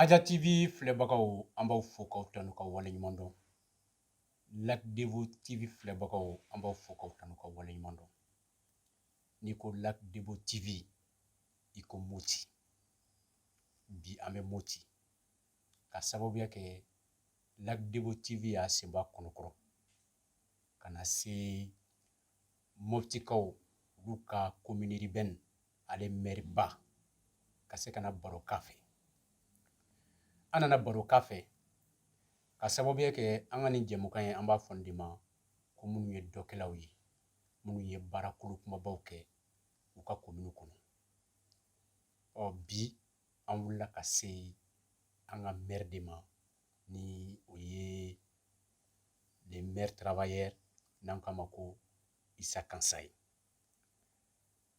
Aja TV filɛbagaw an b'aw fo k'aw tanu ka wale ɲuman dɔn Lac Débo TV filɛbagaw an b'aw fo k'aw tanu ka wale ɲuman dɔn n'i ko Lac Débo TV i ko Moti bi an bɛ Moti k'a sababuya kɛ Lac Débo TV y'a sen bɔ a kɔnɔkɔrɔ ka na se mɔptikaw olu ka commune urbaine ale mɛriba ka se ka na baro k'a fɛ an nana baro k'a fɛ k'a sababuya kɛ an ka nin jɛmukan ye an b'a fɔ nin de ma ko minnu ye dɔkɛlaw ye minnu ye baara kolo kunbabaw kɛ u ka komini kɔnɔ ɔ bi an wulila ka se an ka mɛri de ma ni o ye le maire travailleur n'an k'a ma ko isa kansaye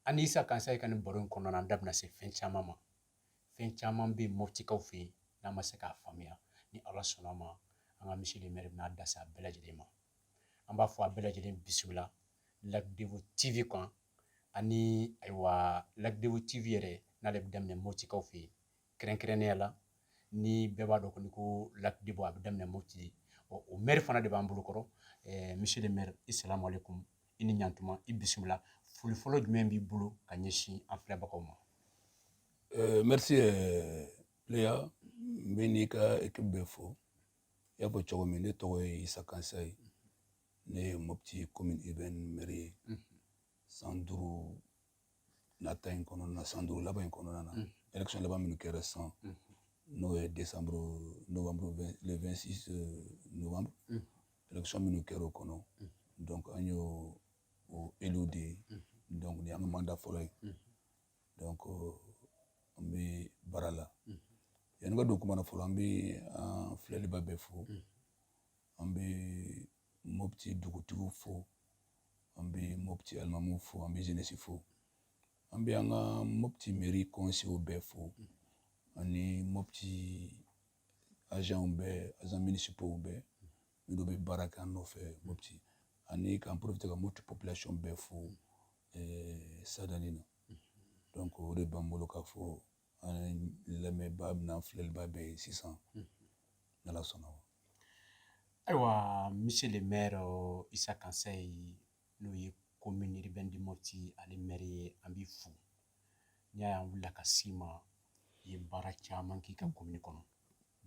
an ni isa kansaye ka nin baro in kɔnɔna na an da bɛna se fɛn caman ma fɛn caman bɛ yen moptikaw fɛ yen n'an ma se k'a faamuya ni ala sɔnn'a ma an ka monsieur le maire bɛna da se a bɛɛ lajɛlen ma an b'a fɔ aw bɛɛ lajɛlen bisimila lac débo tv kan ani ayiwa lac débo tv yɛrɛ n'ale bɛ daminɛ moptikaw fɛ yen kɛrɛnkɛrɛnnenya la ni bɛɛ b'a dɔn kɔni ko lac débo a bɛ daminɛ moti ɔ o mɛri fana de b'an bolo kɔrɔ eh, monsieur le maire isalamu aleykum i ni ɲantuma i bisimila foli fɔlɔ jumɛn b'i bolo ka ɲɛsin an filɛbagaw ma eh, merci pléa n bɛ n'i ka équipe bɛɛ fo i y'a fɔ cogo min ne tɔgɔ ye isa kansaye ne ye mopti commune urbaine maire ye mhm. san duuru nata in kɔnɔna na san duuru laban in kɔnɔna na élection laban minnu kɛra sisan n'o ye décembre novembre le 26 euh, novembre élection minnu kɛra o kɔnɔ donc an y'o o élu de ye donc nin y'an ka mandat fɔlɔ ye donc euh, an bɛ baara la yanni ka don kuma na fɔlɔ an bɛ an filɛlibaa bɛɛ fo an bɛ mopti dugutigiw fo an bɛ mopti alimamu fo an bɛ jeunesse fo an bɛ an ka mopti meri kɔnseyew bɛɛ fo ani mopti azanw bɛɛ azan minisipow bɛɛ minnu bɛ baara kɛ an nɔfɛ mopti ani k'an porofite ka mopti population bɛɛ fo eh, sadani na donc o de b'an bolo k'a fɔ an lamɛnbaa bɛɛ n'an filɛlibaa bɛɛ ye sisan n'ala sɔnna wa ayiwa monsieur le maire Isa Kansaye n'o ye commune urbaine de Mopti ale maire ye an b'i fo n'i y'a ye an wulila ka s'i ma i ye baara caman k'i ka commune kɔnɔ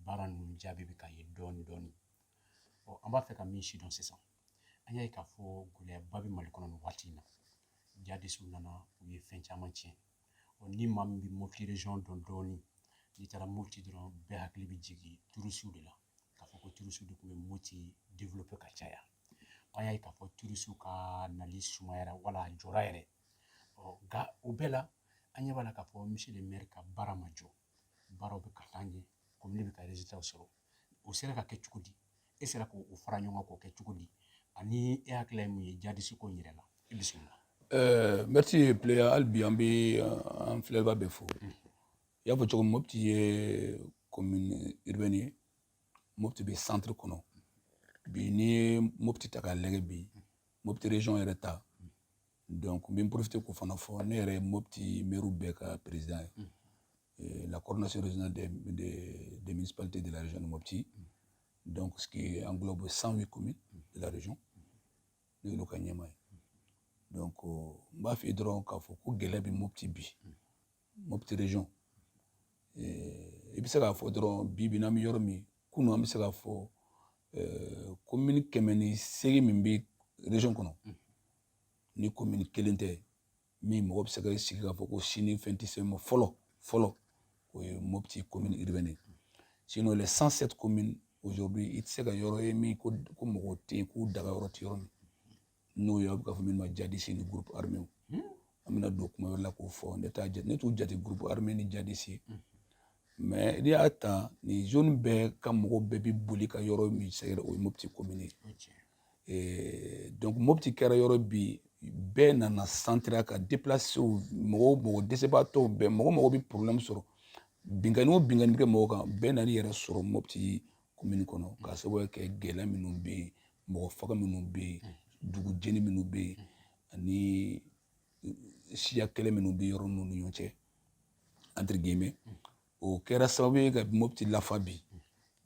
baara ninnu jaabi bɛ ka ye dɔɔnin dɔɔnin ɔ an b'a fɛ ka min sidɔn sisan an y'a ye k'a fɔ gɛlɛyaba bɛ mali kɔnɔ nin waati in na jadisiw nana u ye fɛn caman tiɲɛ ɔ ni maa min bɛ mopti région dɔn dɔɔnin n'i taara mopti dɔrɔn bɛɛ hakili bɛ jigin turusiw de la k'a fɔ ko turusiw de tun bɛ mopti developpe ka caya an y'a ye k'a fɔ turusiw ka nali sumayara wala a jɔra yɛrɛ ɔ nka o bɛɛ la an ɲɛ b'a la k'a fɔ monsieur le maire ka baara ma jɔ baaraw bɛ ka taa ɲɛ komini bɛ k'a ta sɔrɔ o sera ka kɛ cogo di e sera k'o fara ɲɔgɔn kan k'o kɛ cogo di ani e hakilila ye mun ye jadisi ko in yɛrɛ la i bisimila ɛɛ mɛti pileya hali bi an bɛ an filɛba bɛɛ fo i y'a fɔ cogo min mopti ye komini uribɛni ye mopti bɛ santiri kɔnɔ bi n'i ye mopti ta k'a lajɛ bi mopti région yɛrɛ ta donc n bɛ n porofite k'o fana fɔ ne yɛrɛ ye mopti mɛriw bɛɛ ka perezidan ye mm. eh, la coordination régionale des de, de municipalités de la région de mopti mm. donc ce qui englobe 108 communes mm. de la région ne y'olu ka ɲɛmaa ye donc oh, n b'a f'i ye dɔrɔn k'a fɔ ko gɛlɛya bɛ mopti bi mopti région eh, i bɛ se k'a fɔ dɔrɔn bi bi n'an bɛ yɔrɔ min kunu an bɛ se k'a fɔ eh, komini kɛmɛ ni seegin min bɛ région kɔnɔ ni komini kelen tɛ min mɔgɔ bɛ se ka sigi k'a fɔ ko sini fɛn tɛ se ma fɔlɔ fɔlɔ o ye mopti komini urbaine ye sinon les 107 communes aujourd'hui i tɛ se ka yɔrɔ ye min ko ko mɔgɔ tɛ yen k'u daga yɔrɔ tɛ yɔrɔ min n'o ye aw bɛ ka fɔ min ma jadisi ni groupe armé an bɛna don kuma wɛrɛ la k'o fɔ ne t'a jate ne t'u jate groupe armé ni jadisi mais n'i y'a ta nin zone bɛɛ ka mɔgɔ bɛɛ bɛ boli ka yɔrɔ min sɛgɛrɛ o ye mopti komini ye donc mopti kɛra yɔrɔ bi bɛɛ nana centre ka deplacew mɔgɔw mɔgɔ dɛsɛbaatɔw bɛɛ mɔgɔ o mɔgɔ bɛ problème sɔrɔ binkanni o binkanni bɛ kɛ mɔgɔ kan bɛɛ nana i yɛrɛ sɔrɔ mopti komini kɔnɔ k'a sababuya kɛ gɛlɛya minnu bɛ yen mɔgɔ faga minnu bɛ yen dugu jeni minnu bɛ yen ani siya kɛlɛ minnu bɛ yɔrɔ ninnu ni ɲɔgɔn cɛ entre guillemets o kɛra sababu ye ka mopti lafa bi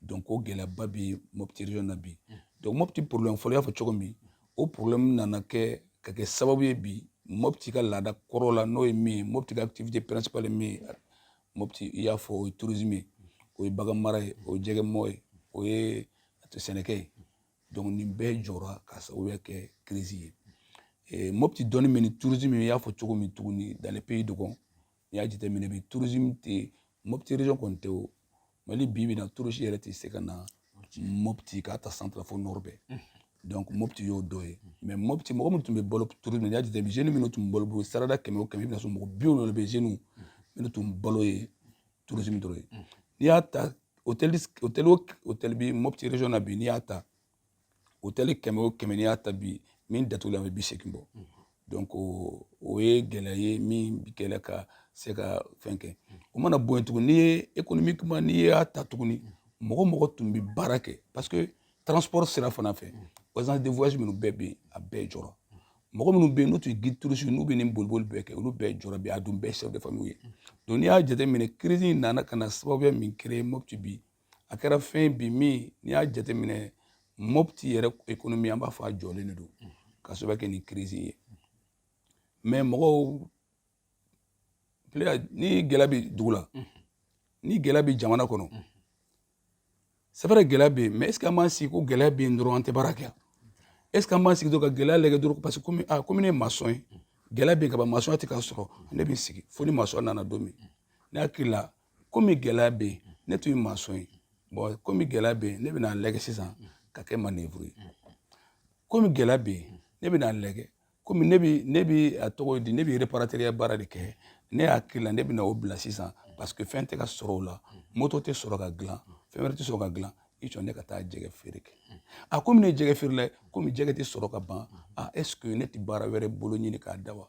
donc ko gɛlɛyaba bɛ mopti region na bi donc mopti problème fɔlɔ i y'a fɔ cogo min o problème nana kɛ ka kɛ sababu ye bi mopti ka laada kɔrɔ la n'o ye min ye mopti ka activité principale min ye mopti i y'a fɔ o ye tourisme ye o ye bagan mara ye o ye jɛgɛ mɔ ye o ye sɛnɛkɛ ye donc nin bɛɛ jɔra k'a sababuya kɛ crise ye mopti dɔnni min ni tourisme i y'a fɔ cogo min tuguni dans le pays dogon n'i y'a jateminɛ bi turusimu tɛ mopti region kɔni tɛ o mali bi bi na turusi yɛrɛ tɛ se ka na mopti k'a ta centre fo nord bɛɛ donc mopti y'o dɔ ye mais mopti mɔgɔ minnu tun bɛ balo turusimu n'i y'a jateminɛ jeunes minnu tun balo bolo sarada kɛmɛ o kɛmɛ i bɛna sɔrɔ mɔgɔ biwolonwula bɛ jeunes minnu tun balo ye turusimu dɔrɔn ye n'i y'a ta hôtel hôtel hôtel bi mopti region na bi n'i y'a ta hôtel kɛmɛ o kɛmɛ n'i y'a ta bi min datugulen bɛ bi seegin bɔ donc o ye gɛlɛya ye min bi kɛlɛ ka se ka fɛn kɛ o mana bɔ yen tuguni n'i ye économique kuma n'i y'a ta tuguni mɔgɔ mɔgɔ tun bɛ baara kɛ parce que transport sira fana fɛ agence de voyage minnu bɛɛ bɛ yen a bɛɛ jɔra mɔgɔ minnu bɛ yen n'u tun ye guide touristique n'u bɛ nin boliboli bɛɛ kɛ olu bɛɛ jɔra bi a dun bɛɛ chef de famille ye donc n'i y'a jateminɛ crise in nana ka na sababuya min créer Mopti bi a kɛra fɛn bi min n'i y'a jateminɛ mopti yɛrɛ ekonomi an b'a fɔ a jɔlen de don ka sababu kɛ ni kirisi ye mɛ mɔgɔw ni gɛlɛya bɛ dugu la ni gɛlɛya bɛ jamana kɔnɔ c'est vrai gɛlɛya bɛ yen mɛ ɛseke an b'an sigi ko gɛlɛya bɛ yen dɔrɔn an tɛ baara kɛ ɛseke an b'an sigi dɔrɔn ka gɛlɛya lajɛ dɔrɔn parce que komi a komi ne ye masɔn ye gɛlɛya bɛ yen ka ban masɔnya tɛ ka sɔrɔ ne bɛ sigi fo ni masɔn nana don min ne hakili la komi gɛlɛya bɛ yen ne tun ye masɔn ye bɔn komi gɛlɛya bɛ yen ne bɛna lɛgɛ sisan ka kɛ manevuru ye komi gɛlɛya bɛ yen ne bɛna lɛgɛ komi ne bi ne bi a tɔgɔ di ne bi reparateriya baara de kɛ ne hakili la ne bɛna o bila sisan parce que fɛn tɛ ka sɔrɔ o la moto tɛ sɔrɔ ka dilan fɛn wɛrɛ tɛ sɔrɔ ka dilan i jɔ ne ka taa jɛgɛ feere kɛ a komi ne ye jɛgɛfeerela komi jɛgɛ tɛ sɔrɔ ka ban a est ce que ne tɛ baara wɛrɛ bolo ɲini k'a da wa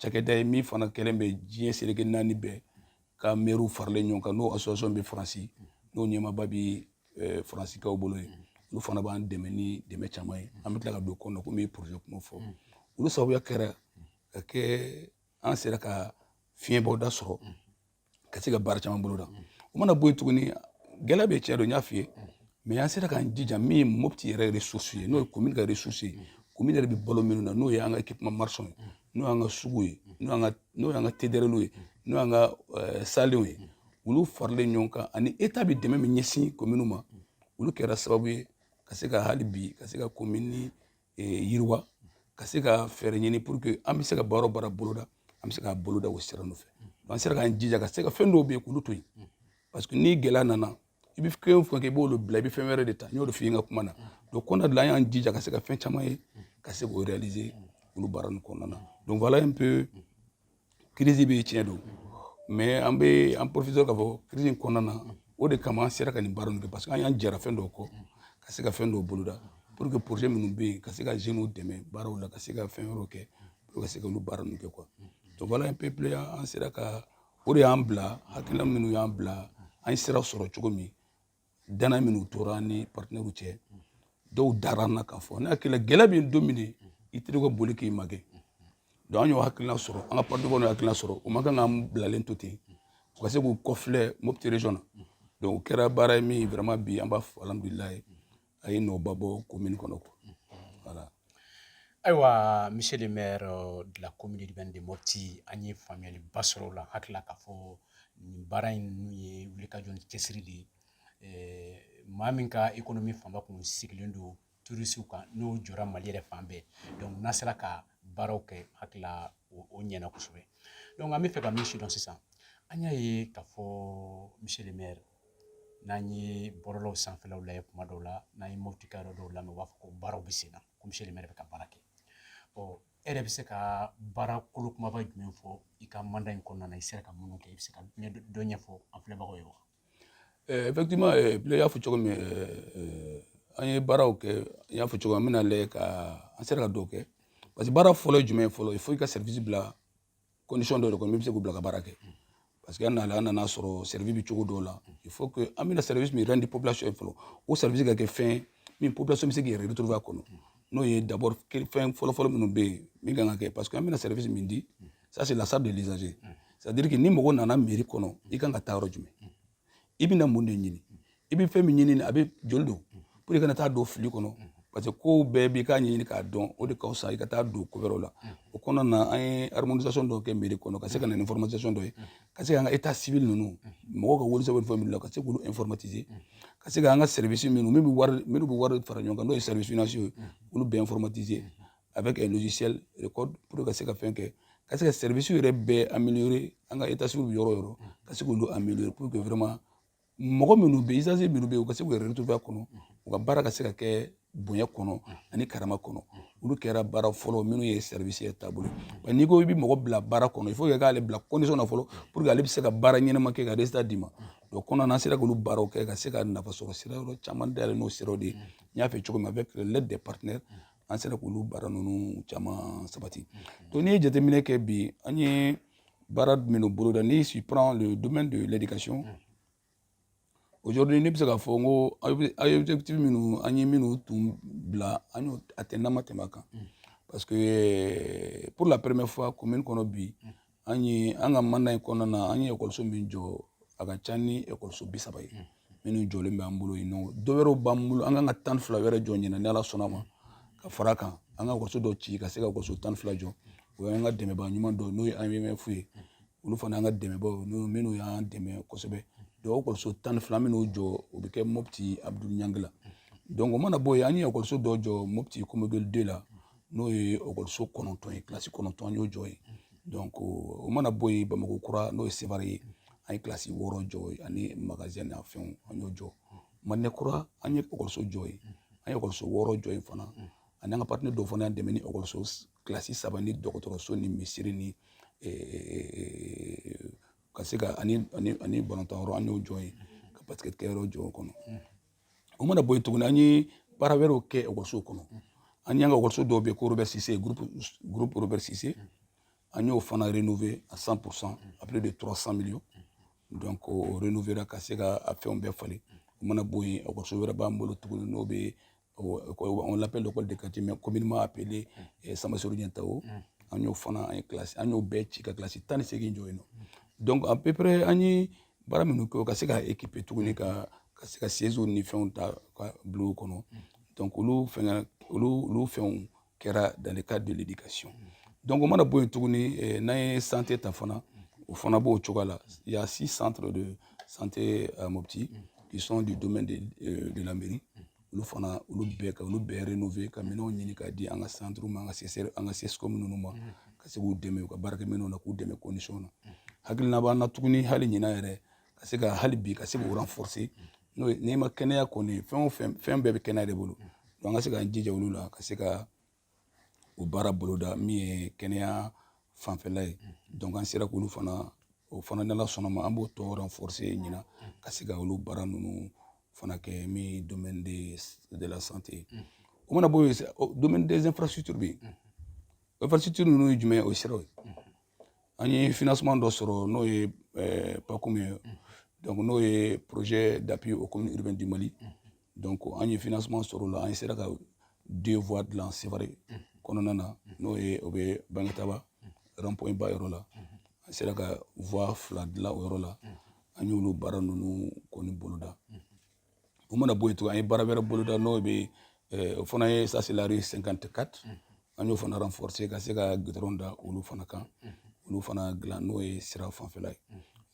cakɛda ye min fana kɛlen bɛ diɲɛ seleke naani bɛɛ ka mɛriw faralen ɲɔgɔn kan n'o association bɛ faransi n'o ɲɛmaaba bɛ eh, faransikaw bolo ye olu fana b'an dɛmɛ ni dɛmɛ caman ye an bɛ tila ka don kɔnɔna komi projet kuma fɔ olu sababuya kɛra ka kɛ an sera ka fiɲɛbɔda sɔrɔ ka se ka baara caman bolo da o mana bɔ yen tuguni gɛlɛya bɛ tiɲɛ don n y'a f'i ye mɛ an sera k'an jija min ye mopti yɛrɛ resursi ye n'o ye komin ka resursi ye komin yɛrɛ bɛ balo minnu na n'o ye an ka équipements marchands ye n'o y'an ka sugu ye n'o y'an ka tedereliw ye n'o y'an ka eh, salenw ye olu faralen ɲɔgɔn kan ani eta bɛ dɛmɛ min ɲɛsin kominw ma olu kɛra sababu ye ka se ka hali bi ka se ka komini yiriwa ka se ka fɛɛrɛ ɲini pour que an bɛ se ka baara baara boloda an bɛ se ka boloda o sira nɔfɛ an sera k'an jija ka se ka fɛn dɔw bɛ yen k'olu to yen parce que ni gɛlɛya nana i bɛ fɛn fɛn kɛ i b'olu bila i bɛ fɛn wɛrɛ de ta n y'o de f'i ye n ka kuma na donc kɔnɔna de la an y'an jija ka se ka fɛn caman ye ka se k'o réaliser olu baara ninnu kɔnɔna na donc voilà un peu crise bɛ tiɲɛ don mais an bɛ an professeur k'a fɔ crise in kɔnɔna na o de kama an sera ka nin baara ninnu kɛ parce que an y'an jɛra fɛn dɔw kɔ ka se ka fɛn dɔw boloda pour que projet minnu bɛ yen ka se ka jeunes dɛmɛ baaraw la ka se ka fɛn wɛrɛw kɛ pour ka se ka olu baara ninnu kɛ quoi donc voilà un peu plus an sera ka o de y'an bila hakilina minnu y'an bila an ye sira sɔrɔ cogo min dana minnu tora ni partenaires cɛ dɔw dara an na k'a fɔ ne hakili la gɛlɛya bɛ don min de i teri ka boli k'i magɛn donc an y'o hakilina sɔrɔ an ka partenaires y'o hakilina sɔrɔ u man kan k'an bilalen to ten u ka se k'u kɔfilɛ mopti region na donc o kɛra baara ye min vraiment bi an b'a fɔ alhamdulilayi a ye nɔba bɔ komini kɔnɔ ko wala ayiwa monsieur le maire euh, de la commune urbaine de Mopti an ye faamuyaliba sɔrɔ o la hakili la k'a fɔ nin baara ninnu ye wulikajɔ ni cɛsiri de ye eh, maa min ka économie fanba kun sigilen don turisiw kan n'o jɔra mali yɛrɛ fan bɛɛ donc n'a sera ka baaraw kɛ hakili la o ɲɛna kosɛbɛ donc an b'a fɛ ka min sidɔn sisan an y'a ye k'a fɔ monsieur le maire n'an ye bɔlɔlɔw sanfɛlaw lajɛ kuma dɔw la n'an ye mɔtikaw yɛrɛ dɔw lamɛn u b'a fɔ ko baaraw bɛ sen na komi seli yɛrɛ bɛ ka baara kɛ ɔ e yɛrɛ bɛ se ka baara kolo kunbaba jumɛn fɔ i ka manda in kɔnɔna na i sera ka minnu kɛ i bɛ se ka dɔ ɲɛfɔ an filɛbagaw ye wa effectivement ile y'a fɔ cogo min an ye baaraw kɛ n y'a fɔ cogo min an bɛna lajɛ ka an sera ka dɔw kɛ parce que baara fɔlɔ ye jumɛn ye fɔlɔ fo i ka service bila condition dɔ de kɔnɔ min bɛ se k'u bila ka baara kɛ parce que an nana an nana a sɔrɔ service bɛ cogo dɔw la il faut que an bɛna service min rendre population ye fɔlɔ o service ka kɛ fɛn min population bɛ se k'i yɛrɛ retrouver a kɔnɔ n'o ye d'abord fɛn fɔlɔfɔlɔ minnu bɛ yen min kan ka kɛ parce que an bɛna service min di ça c'est la charte de l'usager c'est à dire que ni mɔgɔ nana mairie kɔnɔ i kan ka taa yɔrɔ jumɛn i bɛna mun de ɲini i bɛ fɛn min ɲini a bɛ joli don pour que i kana taa don fili kɔnɔ parce que kow bɛɛ i k'a ɲini k'a dɔn o de ka fisa i ka taa don ko wɛrɛw la o kɔnɔna na an ye harmonisation dɔw kɛ mairie kɔnɔ ka se ka na ni informatisation dɔ ye ka se k'an ka état civil ninnu mɔgɔw ka wolosɛbɛn fɛn minnu la ka se k'olu informatiser ka se k'an ka service ninnu minnu bɛ wari minnu bɛ wari fara ɲɔgɔn kan n'o ye service financier ye olu bɛɛ informatiser avec le logiciel recode pour ka se ka fɛn kɛ ka se ka service yɛrɛ bɛɛ améliorer an ka état civil yɔrɔ yɛrɛ ka se k'olu améliorer pour que vraiment mɔgɔ minnu bɛ usager minnu bɛ yen u ka se k'u yɛrɛ retrouver a kɔnɔ u ka baara ka se ka kɛ bonya kɔnɔ ani karama kɔnɔ olu kɛra baara fɔlɔ minnu ye service yɛrɛ taabolo ye n'i ko i bɛ mɔgɔ bila baara kɔnɔ il faut que i k'ale bila condition na fɔlɔ pour que ale bɛ se ka baara ɲɛnama kɛ ka résultat d'i ma donc o kɔnɔna an sera k'olu baaraw kɛ ka se ka nafasɔrɔ sira yɔrɔ caman dayɛlɛ n'o siraw de ye n y'a fɔ cogo min avec l'aide des partenaires an sera k'olu baara ninnu caman sabati donc n'i ye jateminɛ kɛ bi an ye baara minnu boloda ni si on prend le domaine de l'éducation aujourd'hui ne bɛ se k'a fɔ n ko an ye objectif minnu an ye minnu tun bila an y'o atteindre n'an ma tɛmɛ a kan parce que pour la première fois commune kɔnɔ bi an ye an ka manda in kɔnɔna na an ye ekɔliso min jɔ a ka ca ni ekɔliso bi saba ye minnu jɔlen bɛ an bolo yen nɔ dɔ wɛrɛw b'an bolo an kan ka tan ni fila wɛrɛ jɔ ɲinan ni ala sɔnna a ma ka fara a kan an ka ekɔliso dɔ ci ka se ka ekɔliso tan ni fila jɔ o y'an ka dɛmɛbaa ɲuman dɔ n'o ye aimf ye olu fana an ka dɛmɛbaaw minnu y'an dɛmɛ kosɛbɛ donc ekɔliso tan ni fila minnu jɔ o bɛ kɛ mopti abdoul niang la donc o mana bɔ yen an ye ekɔliso dɔ jɔ mopti komoguel de la n'o ye ekɔliso kɔnɔntɔn ye kilasi kɔnɔntɔn an y'o jɔ yen donc o mana bɔ yen bamakɔ kura n'o ye sevare ye an ye kilasi wɔɔrɔ jɔ yen ani magazɛn n'a fɛnw an y'o jɔ madina kura an ye ekɔliso jɔ yen an ye ekɔliso wɔɔrɔ jɔ yen fana ani an ka partenaire dɔw fana y'an dɛmɛ ni ekɔliso kilasi saba ni dɔgɔtɔrɔso ni misiri ni ka se ka ani balontan yɔrɔ an y'o jɔ yen ka basikɛtikɛ yɔrɔ jɔ o kɔnɔ o mana bɔ yen tuguni an ye baara wɛrɛw kɛ ekɔlisow kɔnɔ an y'an ka ekɔliso dɔw bɛ yen ko robert sise groupe robert sise an y'o fana renouveler à 100 pour cent à plus de 300 millions donc o renouveler ka se ka a fɛnw bɛɛ falen o mana bɔ yen ekɔliso wɛrɛ b'an bolo tuguni n'o bɛ on l'appelle l'école de quartier mais communément appelé eh, Samasori Ɲɛntawo an y'o fana an ye kilasi an y'o bɛɛ ci ka kilasi tan ni seegin jɔ yen nɔ donc à peu près an ye baara minnu kɛ ka se ka ekipe tuguni ka ka se ka seziw ni fɛnw ta ka bila o kɔnɔ donc olu fɛn olu olu fɛnw kɛra dans le cadre de l'éducation donc o mana bɔ yen tuguni eh, n'an ye sante ta fana o fana b'o cogoya la il y a six centres de santé à Mopti qui sont du domaine de, euh, de la mairie olu fana olu bɛɛ ka olu bɛɛ renove ka minɛnw ɲini k'a di an ka santiri ma an ka sesɛri an ka CSCOM ninnu ma ka se k'u dɛmɛ u ka baarakɛ minɛnw na k'u dɛmɛ kondisɔn na hakilina b'an na tuguni hali ɲina yɛrɛ ka se ka hali bi ka se k'u renforcer n'o ye n'i ma kɛnɛya kɔni fɛn o fɛn fɛn bɛɛ bɛ kɛnɛya de bolo an ka se k'an jija olu la ka se ka o baara boloda min ye kɛnɛya fanfɛla ye donc an sera k'olu fana o fana n'Ala sɔnn'a ma an b'o tɔ renforcer ɲina ka se ka olu baara ninnu fana kɛ min ye domaine de, de la santé o mana bɔ yen domaine des infrastructures bɛ yen infrastructure ninnu ye jumɛn ye o ye siraw ye an ye financement dɔ sɔrɔ n'o ye eh, PACUM ye mm. donc n'o ye projet d'appui aux communes urbaines du mali mm. donc an ye financement sɔrɔ o la an ye sera ka deux voies dilan sevare mm. kɔnɔna na n'o ye o bɛ bangitaba rond-point ba yɔrɔ la an sera ka voie fila dilan o yɔrɔ la an y'olu baara ninnu kɔni boloda o mana bɔ yen tugun an ye baara wɛrɛ boloda n'o bɛ o fana ye ça c'est la rue cinquante-quatre an y'o fana renforcer ka se ka gudɔrɔn da olu fana kan olu fana dilan n'o ye sira fanfɛla ye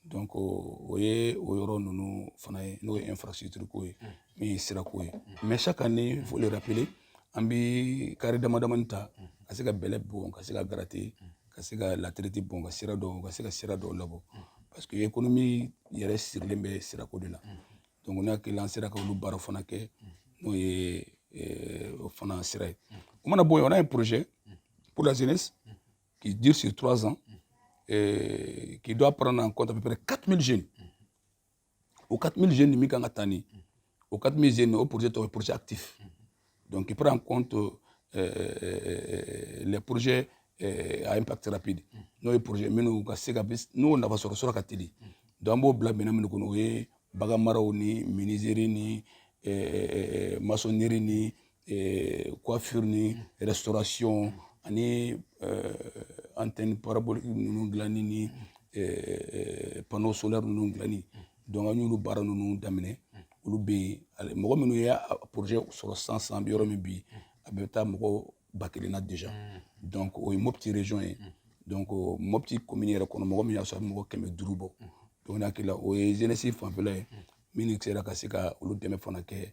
donc o ye o yɔrɔ ninnu fana ye n'o ye infrastructure ko ye min ye sirako ye mais chaque année faut le rappeler an bɛ kare damadamani ta ka se ka bɛlɛ bɔn ka se ka gratter ka se ka latiriti bɔn ka sira dɔw ka se ka sira dɔw labɔ parce que ekonomi yɛrɛ sirilen bɛ sirako de la donc n hakili la an sera ka olu baara fana kɛ n'o ye eh, o fana sira ye o mana bɔ yen on a un projet pour la jeunesse qui dure sur trois ans et eh, qui doit prendre en compte à peu près 4000 jeunes o 4000 jeunes min kan ka ta ni o 4000 jeunes o projet tɔgɔ ye projet actif donc qui prend en compte euh, euh, les projets euh, à impact rapide n'o ye projet minnu ka se ka n'o nafa sɔrɔ sɔrɔ ka teli donc an b'o bila minɛn minnu kɔnɔ o ye bagan maraw ni menuiserie ni maçonnerie ni eh, coiffure ni restauration ani eh, antenne parabolique ninnu dilanni ni eh, panneau solaire ninnu dilanni donc an y'olu baara ninnu daminɛ olu bɛ yen mɔgɔ minnu ye projet sɔrɔ sisan an bɛ yɔrɔ min bi a bɛ taa mɔgɔ ba kelen na déjà donc o ye mopti région ye donc mopti commune yɛrɛ kɔnɔ mɔgɔ min y'a sɔrɔ a bɛ mɔgɔ kɛmɛ duuru bɔ donc n'a kɛla o ye jeunesse fanfɛla ye min sera ka se ka olu dɛmɛ fana kɛ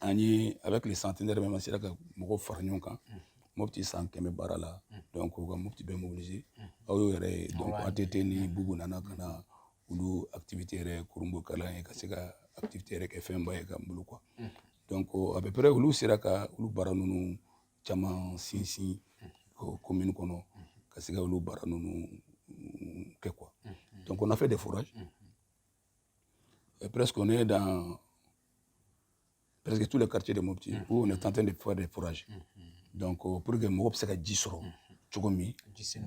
an ye avec le centenaire même an sera ka mɔgɔw fara ɲɔgɔn kan mopti san kɛmɛ baara la donc u ka mopti bɛɛ mobiliser aw y'o yɛrɛ ye donc att ni bubu nana ka na olu activité yɛrɛ kurunbonkari yen ka se ka activité yɛrɛ kɛ fɛnba ye an bolo quoi donc à peu près olu sera ka olu baara ninnu caman sinsin commune kɔnɔ ka se ka olu baara ninnu kɛ quoi donc on a fait des forages Et presque on est dans presque tous les quartiers de Mopti mm. où on est en train de faire des forages. Mm, mm. Donc euh, pour que mɔgɔ bɛ se ka ji sɔrɔ cogo min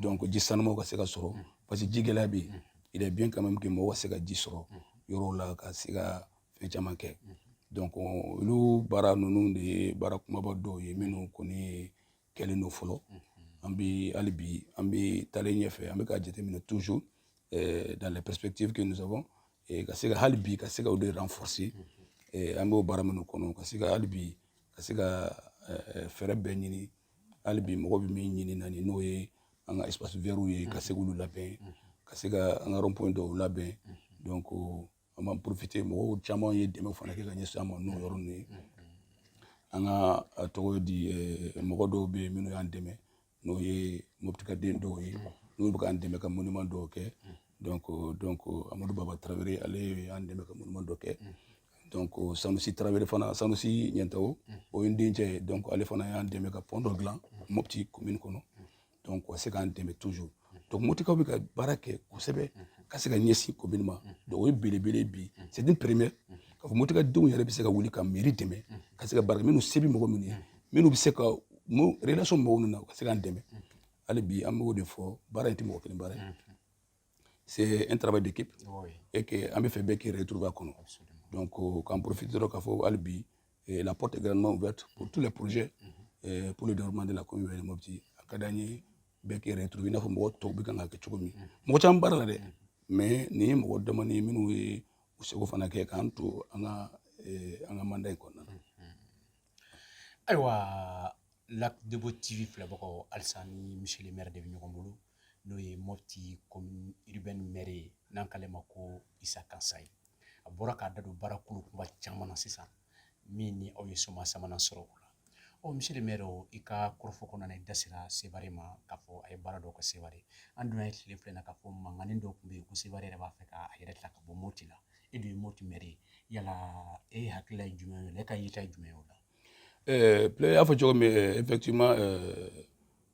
donc ji sanumanw ka se ka sɔrɔ parce que ji gɛlɛya bɛ yen il est bien quand même que mɔgɔ ka se ka ji sɔrɔ yɔrɔw la ka se ka fɛn caman kɛ donc olu baara ninnu de ye baara kunbaba dɔw ye minnu kɔni ye kɛlen don fɔlɔ an bɛ hali bi an bɛ taalen ɲɛfɛ an bɛ ka jateminɛ toujours eh, dans les perspectives que nous avons eh, ka se ka hali bi ka se ka o de renforcer eh, an b'o baara minnu kɔnɔ ka se ka hali bi ka se ka fɛɛrɛ bɛɛ ɲini hali bi mɔgɔ bɛ min ɲini na ni n'o ye an ka espaces verts ye ka se k'olu labɛn ka se ka an ka rond point dɔw labɛn donc an b'an profiter mɔgɔw caman ye dɛmɛ fana kɛ ka ɲɛsin an ma n'o yɔrɔ ninnu ye an ka a tɔgɔ di mɔgɔ dɔw bɛ yen minnu y'an dɛmɛ n'o ye moptikaden dɔw ye n'u bɛ k'an dɛmɛ ka monument dɔw kɛ donc donc amadu baba tarawele ale ye an dɛmɛ ka monument dɔ kɛ donc sanusi tarawele fana sanusi ɲɛntawo o ye n dencɛ ye donc ale fana y'an dɛmɛ ka pɔn dɔ dilan mopti commune kɔnɔ donc ka se k'an dɛmɛ toujours donc motikaw bɛ ka baara kɛ kosɛbɛ ka se ka ɲɛsin commune ma donc o ye belebele bi c'est une première k'a fɔ motika denw yɛrɛ bɛ se ka wuli ka mairie dɛmɛ ka se ka baara kɛ minnu se bɛ mɔgɔ minnu ye minnu bɛ se ka relation mɔgɔw ninnu na u ka se k'an dɛmɛ hali bi an b'o de fɔ baara in tɛ mɔgɔ kelen baara ye c'est un travail d'équipe oui. et que an bɛ fɛ bɛɛ k'i retrouver a kɔnɔ donc euh, k'an profite dɔrɔn k'a fɔ hali bi eh, la porte est grandement ouverte pour tous les projets mm -hmm. pour le développement de la commune de Mopti a ka d'an ye bɛɛ k'i retrouver i n'a fɔ mɔgɔ tɔw bɛ kan ka kɛ cogo min mhm. mɔgɔ caman baarala dɛ mhm. mais nin ye mɔgɔ damanin minnu ye u seko fana kɛ k'an to an ka eh, an ka mandat in kɔnɔna na mhm. ayiwa lac debo tv filɛbagaw halisa ni monsieur le maire de bɛ ɲɔgɔn bolo n'o ye moti komini mɛri ye n'an k'ale ma ko isa kansaye a bɔra k'a da don baara kulu kunba caman na sisan min ni aw ye soma sabanan sɔrɔ o la ɔ monsieur le maire i ka kɔrɔfɔ kɔnɔna na i da sera sewari ma k'a fɔ aw ye baara dɔw kɛ sewari an dun ye tile fila in na k'a fɔ mankannin dɔ tun bɛ yen ko sewari yɛrɛ b'a fɛ k'a yɛrɛ ta ka bɔ moti la e dun ye moti mɛri ye yala e hakilila ye jumɛn ye n'e ka yeta ye jumɛn ye o la ɛɛ i y'a fɔ cogo min effectivement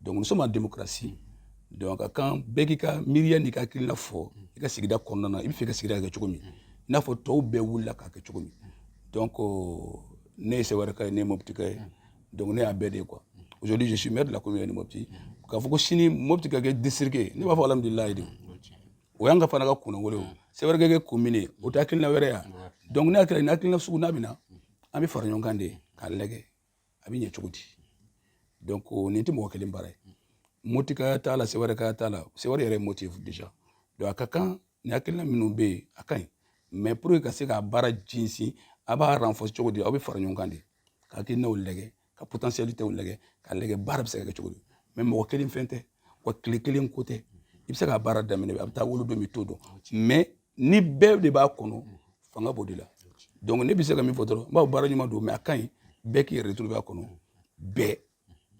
donc nous sommes en démocratie donc a kan bɛɛ k'i ka miiriya n'i ka hakilina fɔ i ka sigida kɔnɔna na i bɛ fɛ ka sigida kɛ cogo min i n'a fɔ tɔw bɛɛ wulila k'a kɛ cogo min donc euh, ne ye sɛwɛrɛka ye ne ye mɔputika ye donc ne y'a bɛɛ de ye quoi aujourd'hui je suis maire de la commune de mɔputi k'a fɔ ko sini mɔputi ka kɛ district ye ne b'a fɔ alhamdulilayi de o y'an ka fana ka kunnawolo ye sɛwɛrɛ ka kɛ commune ye o tɛ hakilina wɛrɛ ye donc ne hakilina nin hakilina sugu n'a bɛ na an bɛ fara ɲɔgɔn kan de k'a lajɛ a bɛ ɲɛ cogo di donc nin tɛ mɔgɔ kelen baara ye motika t'a la sewɛrɛka t'a la sewɛrɛ yɛrɛ ye moti ye déjà donc a ka kan nin hakilina minnu bɛ yen a ka ɲi mais pour que ka se k'a baara sinsin a b'a renforcer cogo di an bɛ fara ɲɔgɔn kan de ka hakilinaw lajɛ ka potentialitéw lajɛ k'a lajɛ baara bɛ se ka kɛ cogo di mais mɔgɔ kelen fɛn tɛ wa tile kelen ko tɛ i bɛ se k'a baara daminɛ a bɛ taa wolo don bɛ to dɔn mais ni bɛɛ de b'a kɔnɔ fanga b'o de la donc ne bɛ se ka min fɔ dɔrɔn n b'a fɔ baara ɲuman don mais a ka ɲi bɛɛ k'i yɛrɛ retrouver a kɔnɔ bɛɛ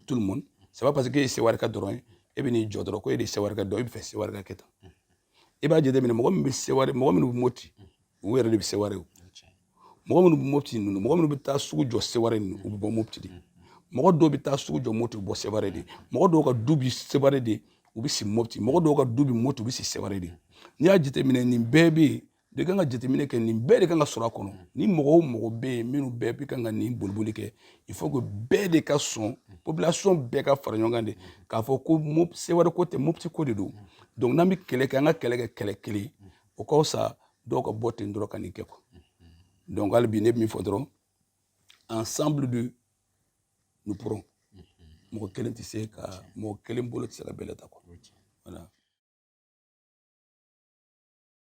tout le monde c'est pas parce que e ye sewarika dɔrɔn ye e bɛ n'i jɔ dɔrɔn ko e de ye sewari ka dɔn e bɛ fɛ sewari ka kɛ tan i b'a jateminɛ mɔgɔ min bɛ sewari mɔgɔ minnu bɛ moti u yɛrɛ de bɛ sewari o mɔgɔ minnu bɛ mopti ninnu mɔgɔ minnu bɛ taa sugu jɔ sewari ninnu u bɛ bɔ mopti de mɔgɔ dɔw bɛ taa sugu jɔ mopti u bɛ bɔ sewari de mɔgɔ dɔw ka du bi sewari de u bɛ si mopti mɔgɔ dɔw ka du bi mopti u bɛ si sewari de n'i y'a jateminɛ nin bɛɛ bɛ yen de k'an ka jateminɛ kɛ nin bɛɛ de kan ka sɔrɔ a kɔnɔ ni mɔgɔ o mɔgɔ bɛ yen minnu bɛɛ bɛ kan ka nin boliboli kɛ il faut que bɛɛ de ka sɔn population bɛɛ ka fara ɲɔgɔn kan de k'a fɔ ko sewari ko tɛ mopti ko de don donc n'an bɛ kɛlɛ kɛ an ka kɛlɛ kɛ kɛlɛ kelen o ka fisa dɔw ka bɔ ten dɔrɔn ka nin kɛ quoi donc hali bi ne bɛ min fɔ dɔrɔn ensemble de nous pourrons mɔgɔ kelen tɛ se ka mɔgɔ kelen bolo tɛ se ka bɛlɛ ta quoi voilà